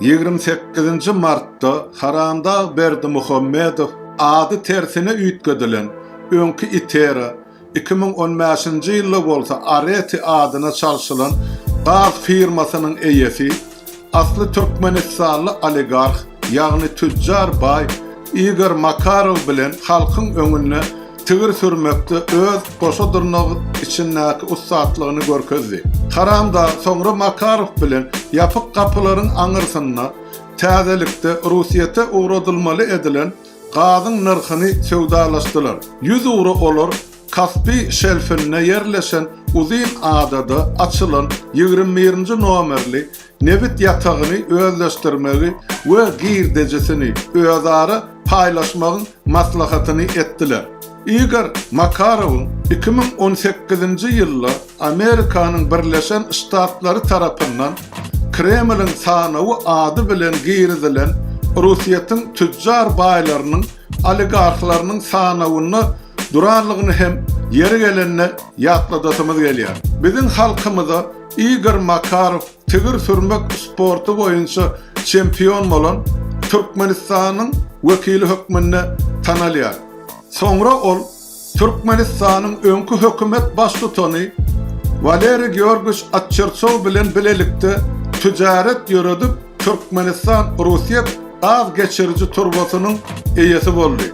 Ýigrimi sekizinji martda Haramdag Berdimuhamedow ady tersine üýtgedilen öňki Itera, iki müň on bäşinji ýylda bolsa Areti adyna çalşylan gaz firmasynyň eýesi, asly türkmenistanly oligarh, ýagny tüjjar baý Igor Makarow bilen halkyň öňünde Tigir sürmekde öz goşa dyrnagy içindäki ussatlygyny görkezdi. Karamda soňra Makarow bilen ýapyk gapylaryň aňyrsynda täzelikde Russýete ugradylmaly edilen gazyň nyrhyny söwdalaşdylar. Ýüz ugra olar Kaspi şelfinde ýerleşen uzyn adada açylan ýigrimi birinji nomerli nebit ýatagyny özleşdirmegi we girdejisini özara paýlaşmagyň maslahatyny etdiler. Igor Makarowyň iki müň on sekizinji ýylda Amerikanyň Birleşen Ştatlary tarapyndan Kremliň sanawy ady bilen girizilen Orsýetiň tüjjar baýlarynyň oligarhlarynyň sanawynda duranlygyny hem ýeri gelende ýatladasymyz gelýär. Biziň halkymyza Igor Makarow Tigir sürmek sporty boýunça çempion bolan Türkmenistanyň wekili hökmünde tanalýar. Soňra ol Türkmenistanyň öňki hökümet baştutany Waleriý Georgiç Atçerçow bilen bilelikde tüjaret ýöredip Türkmenistan-Russiýet gaz geçiriji turbasynyň eýesi boldy.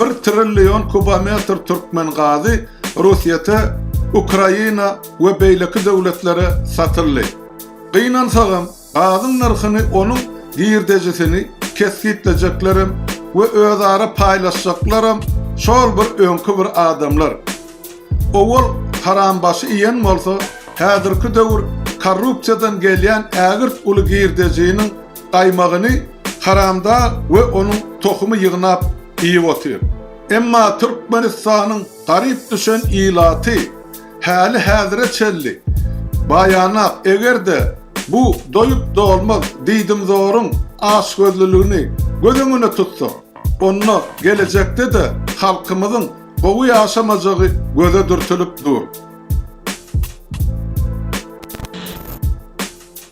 Bir trillion kubometr türkmen gazy Russýete, Ukraina we beýleki döwletlere satyldy. Gynansagam, gazyň nyrhyny onuň girdejisini kesgitlejeklerem we özara paýlaşjaklaram şol bir öňki bir adamlar. Owal harambaşy iýen bolsa, häzirki döwür korrupsiýadan gelýän ägirt uly girdejiniň gaýmagyny haramda we onuň tohumy ýygnap iýip otyr. Emma Türkmenistanyň garyp düşen ilaty häli-häzire çenli baýanak eger-de bu doýup-dolmaz diýdimzoryň açgözlüligini göz öňüne tutsak, onda gelejekde-de halkymyzyň gowy ýaşamajagy göze dürtülip dur.